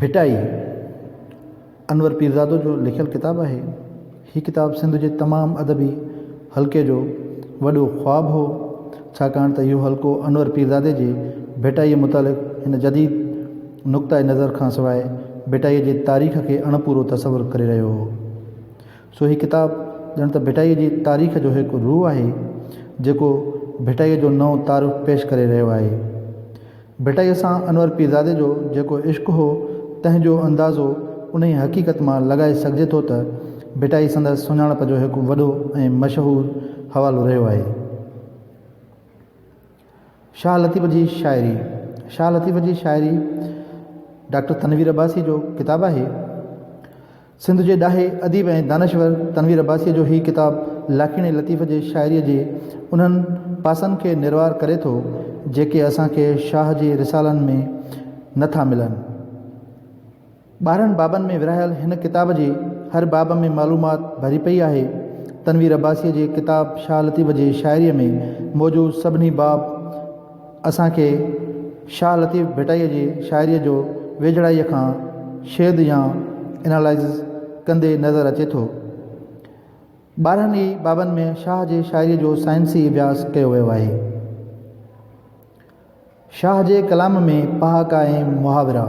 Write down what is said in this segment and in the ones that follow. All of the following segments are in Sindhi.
ڀٽائي، انور پيرزادو جو لکيل ڪتاب آهي. هي ڪتاب سنڌ جي تمام ادبي حلقي جو وڏو خواب هو، ڇاڪاڻ ته اهو حلقو انور پيرزادي جي ڀٽائيء متعلق هن جديد نقطهء نظر کان سواء ڀٽائيء جي تاريخ کي اڻپورو تصور ڪري رهيو هو. سو هي ڪتاب ڄڻ ته ڀٽائيء جي تاريخ جو هڪ روح آهي، جيڪو ڀٽائيء جو نئون تعارف پيش ڪري رهيو آهي. ڀٽائيء سان انور پيرزادي جو جيڪو عشق هو، تنهن جو اندازو انهيء حقيقت مان لڳائي سگهجي ٿو ته ڀٽائي سندس سڃاڻپ جو هڪ وڏو ۽ مشهور حوالو رهيو آهي. شاهه لطيف جي شاعري، شاهه لطيف جي شاعري ڊاڪٽر تنوير عباسيء جو ڪتاب آهي. سنڌ جي ڏاهي اديب ۽ دانشور تنوير عباسيء جو هي ڪتاب لاکيڻي لطيف جي شاعريء جي انهن پاسن کي نروار ڪري ٿو، جيڪي اسان کي شاهه جي رسالن ۾ نه ٿا ملن. ٻارهن بابن ۾ ورهايل هن ڪتاب جي هر باب ۾ معلومات ڀري پئي آهي. تنوير عباسيء جي ڪتاب شاهه لطيف جي شاعريء ۾ موجود سڀني باب، اسان کي شاهه لطيف ڀٽائيء جي شاعريء جو ويجهڙائيء کان شيد يا Analysis ڪندي نظر اچي ٿو. ٻارهن ئي بابن ۾ شاهه جي شاعريء جو سائنسي اڀياس ڪيو ويو آهي. شاهه جي ڪلام ۾ پهاڪا ۽ محاورا.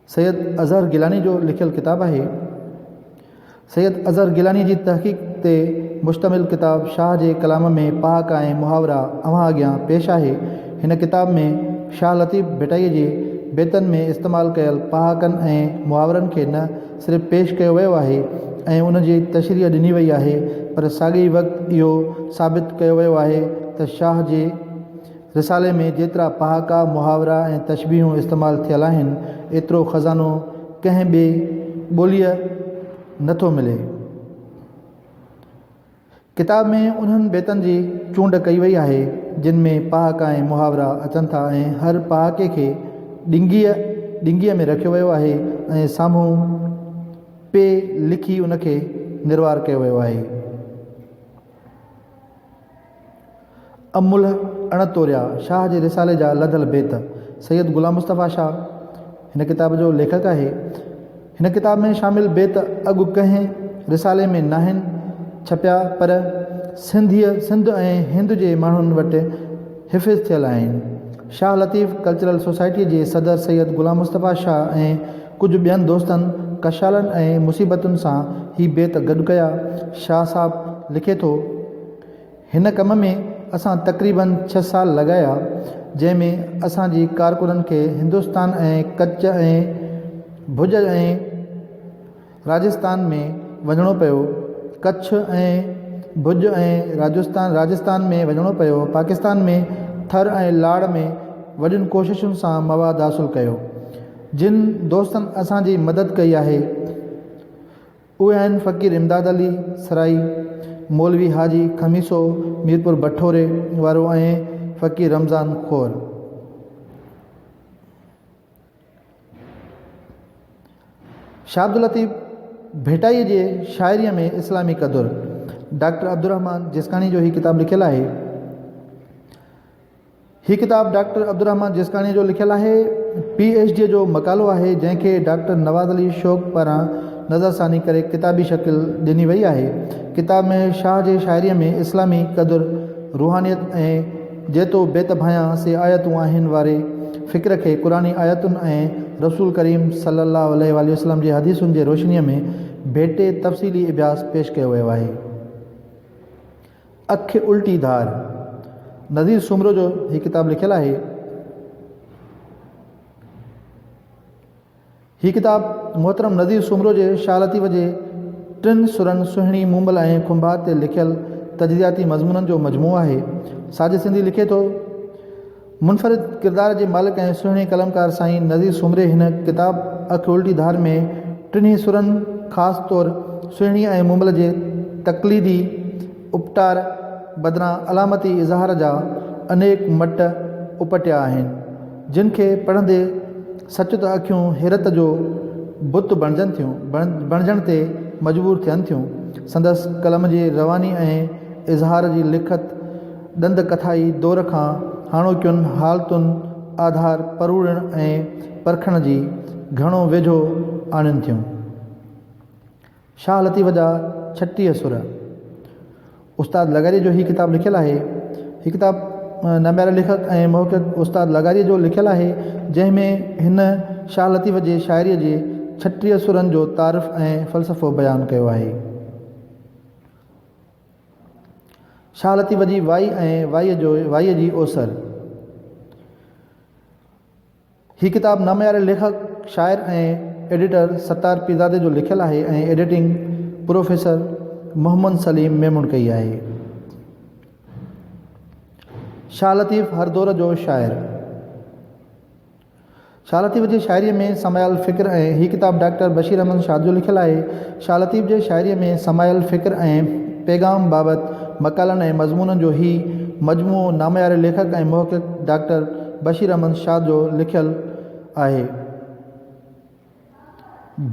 سيد اظهر گيلاني جو لکيل ڪتاب آهي. سيد اظهر گيلاني جي تحقيق تي مشتمل ڪتاب شاهه جي ڪلام ۾ پهاڪا ۽ محاورا اوهان اڳيان پيش آهي. هن ڪتاب ۾ شاهه لطيف ڀٽائي جي بيتن ۾ استعمال ڪيل پهاڪن ۽ محاورن کي نه صرف پيش ڪيو ويو آهي ۽ ان جي تشريح ڏني وئي آهي پر ساڳئي وقت اهو ثابت ڪيو ويو آهي ته شاهه جي رسالي ۾ جيترا پهاڪا، محاورا ۽ تشبيهون استعمال ٿيل آهن، ايترو خزانو ڪنهن ٻي ٻوليء نه ٿو ملي. ڪتاب ۾ انهن بيتن جي چونڊ ڪئي وئي آهي، جن ۾ پهاڪا ۽ محاورا اچن ٿا ۽ هر پهاڪي کي ڏنگيء، ڏنگيء، ۾ رکيو ويو آهي ۽ سامهون پ لکي ان کي نروار ڪيو ويو آهي. املهه اڻ توريا، شاهه جي رسالي جا لڌل بيت، سيد غلام مصطفيٰ شاهه هن ڪتاب جو ليکڪ آهي. هن ڪتاب ۾ شامل بيت اڳ ڪنهن رسالي ۾ ناهن ڇپيا پر سنڌيء، سنڌ ۽ هند جي ماڻهن وٽ حفظ ٿيل آهن. شاهه لطيف ڪلچرل سوسائٽيء جي صدر سيد غلام مصطفيٰ شاهه ۽ ڪجهه ٻين دوستن ڪشالن ۽ مصيبتن سان هي بيت گڏ ڪيا. شاهه صاحب لکي ٿو، هن ڪم ۾ اسان تقريباً ڇهه سال لڳايا، جنهن ۾ اسان جي ڪارڪنن کي هندستان ۽ ڪچ ۽ ڀڄ ۽ راجستان ۾ وڃڻو پيو، ڪڇ ۽ ڀڄ ۽ راجستان ۾ وڃڻو پيو، پاڪستان ۾ ٿر ۽ لاڙ ۾ وڏين ڪوششن سان مواد حاصل ڪيو. جن دوستن اسان جي مدد ڪئي آهي اهي آهن فقير امداد علي سرائي، مولوي حاجي خميسو ميرپور بٺوري وارو ۽ فقير رمضان خور. شاهه عبداللطيف ڀٽائي جي شاعري ۾ اسلامي قدر، ڊاڪٽر عبدالرحمان جسڪاڻي جو هي ڪتاب لکيل آهي. هي ڪتاب ڊاڪٽر عبدالرحمان جسڪاڻيء جو لکيل آهي. پي ايڇ ڊيء جو مقالو آهي، جنهن کي ڊاڪٽر نواز علي شوق پاران نظر ثاني ڪري ڪتابي شڪل ڏني وئي آهي. ڪتاب ۾ شاهه جي شاعريء ۾ اسلامي قدر، روحانيت ۽ جي تو بيت ڀانئيان سي آيتون آهن واري فڪر کي قرآني آيتن ۽ رسول ڪريم صلي الله عليه واٰله وسلم جي حديثن جي روشنيء ۾ ڀيٽي تفصيلي اڀياس پيش ڪيو ويو آهي. اک الٽي ڌار. نذير سومرو جو هي ڪتاب لکيل آهي. هي ڪتاب محترم نذير سومرو جي شاهه لطيف جي ٽن سرن سهڻي مومل ۽ کنڀات تي لکيل تجزياتي مضمونن جو مجموعو آهي. ساجد سنڌي لکي ٿو. منفرد ڪردار جي مالڪ ۽ سهڻي قلمڪار سائين نذير سومري هن ڪتاب اک الٽي ڌار ۾ ٽنهي سرن خاص طور سهڻي ۽ مومل جي تقليدي اپٽار بدران علامتي اظهار جا انيڪ مٽ اپٽيا آهن جن کي پڙهندي سچ ته اکيون حيرت جو بت بڻجن ٿيون بڻجڻ تي مجبور ٿين ٿيون سندس قلم جي رواني ۽ اظهار جي لکت ڏند ڪٿائي دور کان هاڻوڪين حالتن آڌار پروڙڻ ۽ پرکڻ جي گهڻو ويجهو آڻين ٿيون. شاهه لطيف جا ڇٽيهه سر. استاد لغاريء جو هي ڪتاب لکيل آهي. هي ڪتاب نامياري ليکڪ ۽ محقق استاد لغاريء جو لکيل آهي، جنهن ۾ هن شاهه لطيف جي شاعريء جي ڇٽيهه سرن جو تعارف ۽ فلسفو بيان ڪيو آهي. شاهه لطيف جي وائي ۽ وائي جو وائي جي اوسر هي ڪتاب نامياري ليکڪ شاعر ۽ ايڊيٽر ستار پيرزادي جو لکيل آهي ۽ ايڊيٽنگ پروفيسر محمد سليم ميمڻ ڪئي آهي شاهه لطيف هر دور جو شاعر شاھ لطيف جي شاعريء ۾ سمايل فڪر ۽ هي ڪتاب ڊاڪٽر بشير احمد شاد جو لکيل آهي. شاھ لطيف جي شاعريء ۾ سمايل فڪر ۽ پيغام بابت مقالن ۽ مضمونن جو هي مجموعو نامياري ليکڪ ۽ محقق ڊاڪٽر بشير احمد شاد جو لکيل آهي.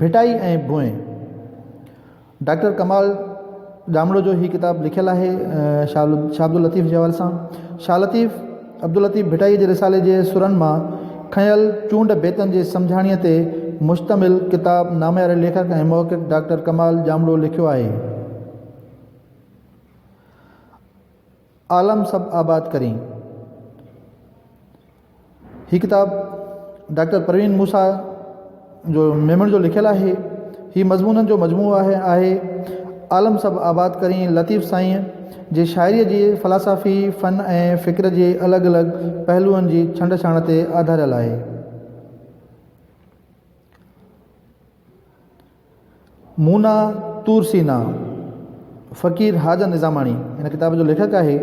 ڀٽائي ۽ ڀونء، ڊاڪٽر ڪمال ڄامڙو جو هي ڪتاب لکيل آهي شال شاهه عبداللطيف جي حوالي سان شاهه لطيف عبداللطيف ڀٽائي جي رسالي جي سرن مان کنيل چونڊ بيتن جي سمجهاڻيء تي مشتمل ڪتاب نامياري ليکڪ ۽ محقق ڊاڪٽر ڪمال ڄامڙو لکيو آهي. عالم سڀ آباد ڪرين. هي ڪتاب ڊاڪٽر پروين موسيٰ جو ميمڻ جو لکيل آهي. هي مضمونن جو مجموعو آهي آهي. عالم سڀ آباد ڪرين لطيف سائينء جي شاعريء جي فلاسافي، فن ۽ فڪر جي الڳ الڳ پهلوئن جي ڇنڊ ڇاڻ تي آڌاريل آهي. مونا طور سينا، فقير حاجن نظاماڻي هن ڪتاب جو ليکڪ آهي.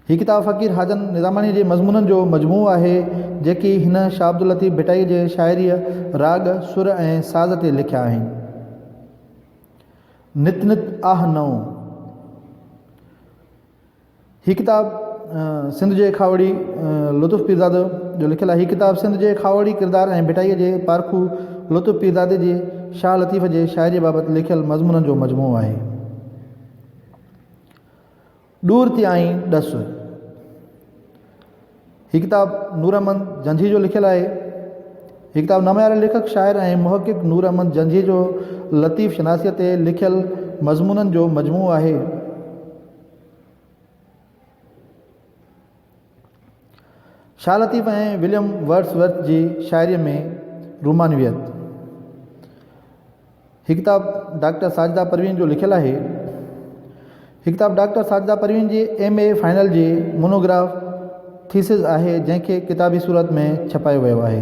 هي ڪتاب فقير حاجن نظاماڻي جي مضمونن جو مجموعو آهي، جيڪي هن شاهه عبداللطيف ڀٽائي جي شاعريء، راڳ، سر ۽ ساز تي لکيا آهن. نت نت آھ نئون. هي ڪتاب سنڌ جي کاهوڙي لطف پيرزاده جو لکيل آهي. هي ڪتاب سنڌ جي کاهوڙي ڪردار ۽ ڀٽائيء جي پارکو لطف پيرزادي جي شاهه لطيف جي شاعريء بابت لکيل مضمونن جو مجموعو آهي. ڏور تيائين ڏس. هي ڪتاب نور احمد جنجهي جو لکيل آهي. هي ڪتاب نامياري ليکڪ، شاعر ۽ محقق نور احمد جنجهي جو لطيف شناسيء تي لکيل مضمونن جو مجموعو آهي. Shah Latif ۽ William Wordsworth جي شاعريء ۾ رومانويت هي ڪتاب ڊاڪٽر ساجده پروين جو لکيل آهي هي ڪتاب ڊاڪٽر ساجده پروين جي ايم اي فائنل جي مونوگراف ٿيسز آهي جنهن کي ڪتابي صورت ۾ ڇپايو ويو آهي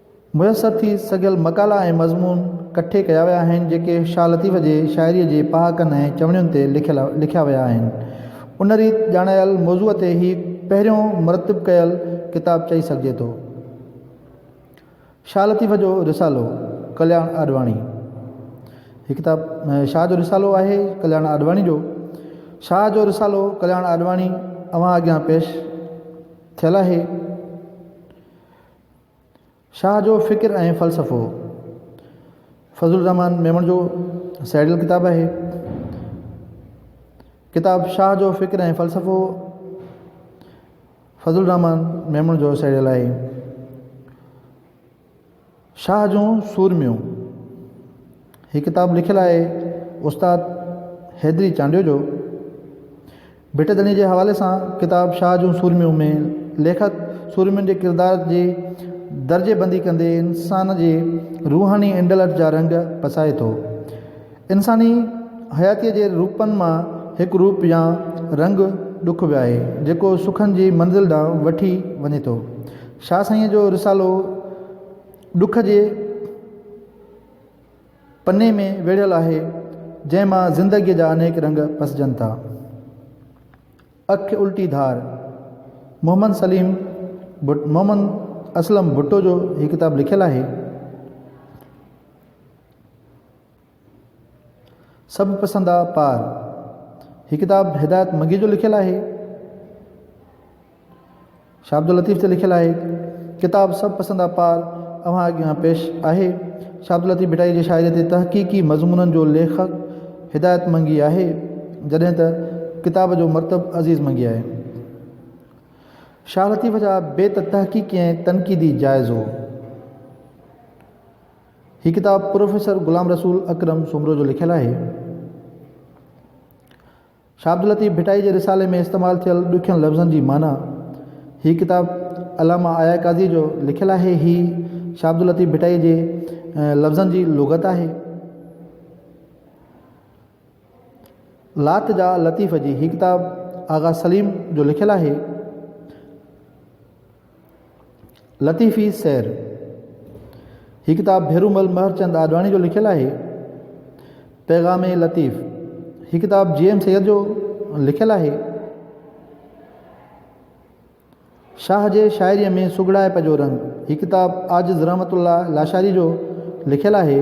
ميسر ٿي سگهيل مقالا ۽ مضمون ڪٺي ڪيا ويا آهن، جيڪي شاهه لطيف جي شاعريء جي پهاڪن ۽ چوڻين تي لکيل لکيا ويا آهن. ان ريت ڄاڻايل موضوع تي هي پهريون مرتب ڪيل ڪتاب چئي سگهجي ٿو. شاهه لطيف جو رسالو، ڪلياڻ آڏواڻي. هي ڪتاب شاهه جو رسالو آهي، ڪلياڻ آڏواڻي جو. شاهه جو رسالو، ڪلياڻ آڏواڻي اوهان اڳيان پيش ٿيل آهي. شاهه جو فڪر ۽ فلسفو فضل الرحمان ميمڻ جو سئيڊل ڪتاب آهي. ڪتاب شاهه جو فڪر ۽ فلسفو فضل الرحمان ميمڻ جو سئيڊل آهي. شاهه جون سورميون هي ڪتاب لکيل آهي استاد حيدري چانڊيو جو ڀٽ ڌڻي جي حوالي سان ڪتاب شاهه جون سورميون ۾ ليکڪ سورمين جي ڪردار جي درجي بندي ڪندي انسان جي روحاني انڊلٺ جا رنگ پسائي ٿو. انساني حياتيء جي روپن مان هڪ روپ يا رنگ ڏک به آهي، جيڪو سکن جي منزل ڏانهن وٺي وڃي ٿو. شاهه سائينء جو رسالو ڏک جي. پني ۾ ويڙهيل آهي، جنهن مان زندگيء جا انيڪ رنگ پسجن ٿا. اک الٽي ڌار، محمد سليم ڀٽ، محمد اسلم ڀٽو جو هي ڪتاب لکيل آهي. سڀ پسندا پار، هي ڪتاب هدايت مگي جو لکيل آهي. شاهه عبداللطيف تي لکيل آهي. ڪتاب سڀ پسند اپار اوهان اڳيان پيش آهي. شاهه عبداللطيف ڀٽائي جي شاعريء تي تحقيقي مضمونن جو ليکڪ هدايت منگي آهي، جڏهن ته ڪتاب جو مرتب عزيز منگي آهي. شاهه لطيف جا بيت تحقيقي ۽ تنقيدي جائزو. هي ڪتاب پروفيسر غلام رسول اڪرم سومرو جو لکيل آهي. شاھ عبداللطيف ڀٽائي جي رسالي ۾ استعمال ٿيل ڏکين لفظن جي معنيٰ هي ڪتاب علامه آيا قاضيء جو لکيل آهي. هي شاھ عبداللطيف ڀٽائي جي لفظن جي لغت آهي. لات جا لطيف جي هي ڪتاب آغا سليم جو لکيل آهي. لطيفي سير، هي ڪتاب ڀيرومل مهرچند آڏواڻي جو لکيل آهي. پيغام لطيف، هي ڪتاب جي ايم سيد جو لکيل آهي. شاهه جي شاعريء ۾ سگهڙائپ جو رنگ، هي ڪتاب عاجز رحمت الله لاشاري جو لکيل آهي.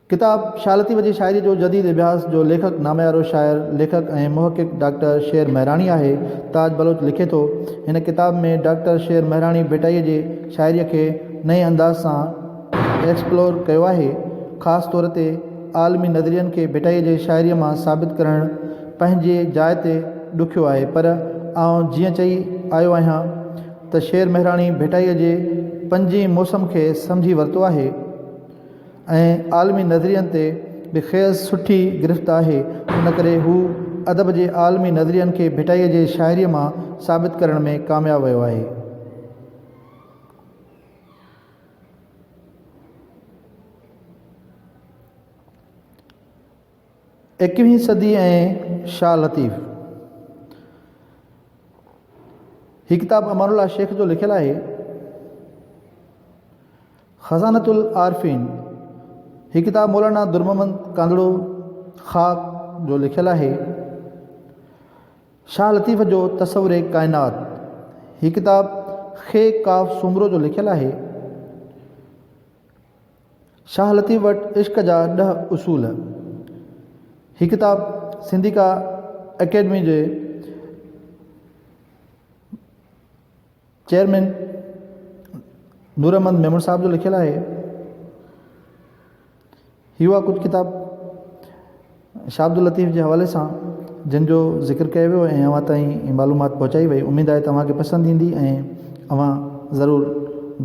ڪتاب شاھ لطيف جي شاعري جو جديد اڀياس جو ليکڪ ناميارو شاعر، ليکڪ ۽ محقق ڊاڪٽر شير مهراڻي آهي. تاج بلوچ لکي ٿو، هن ڪتاب ۾ ڊاڪٽر شير مهراڻي ڀٽائيء جي شاعريء کي نئين انداز سان ايڪسپلور ڪيو آهي. خاص طور تي عالمي نظرين کي ڀٽائيء جي شاعريء مان ثابت ڪرڻ پنهنجي جاء تي ڏکيو آهي پر آئون جيئن چئي آيو آهيان ته شير مهراڻي ڀٽائيء جي پنجين موسم کي سمجهي ورتو آهي. ۽ عالمي نظرين تي به کيس سٺي گرفت آهي، ان ڪري هو ادب جي عالمي نظرين کي ڀٽائيء جي شاعريء مان ثابت ڪرڻ ۾ ڪامياب ويو آهي. ايڪويهين صدي ۽ شاهه لطيف هي ڪتاب امان الله شيخ جو لکيل آهي خزانة العارفين هي ڪتاب مولانا درمحمد ڪانڌڙو خاڪ جو لکيل آهي شاهه لطيف جو تصور ڪائنات هي ڪتاب خي قاف سومرو جو لکيل آهي شاهه لطيف وٽ عشق جا ڏهه اصول هي ڪتاب سنڌيڪا اڪيڊمي جي چيئرمين نور احمد ميمڻ صاحب جو لکيل آهي هي هئا ڪجهه ڪتاب شاهه عبداللطيف جي حوالي سان جن جو ذڪر ڪيو ويو ۽ اوهان تائين هي معلومات پهچائي وئي اميد آهي ته اوهان کي پسند ايندي ۽ اوهان ضرور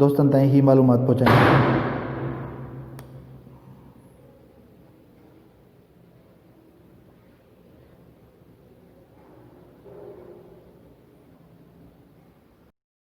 دوستن تائين هي معلومات پهچائيندا.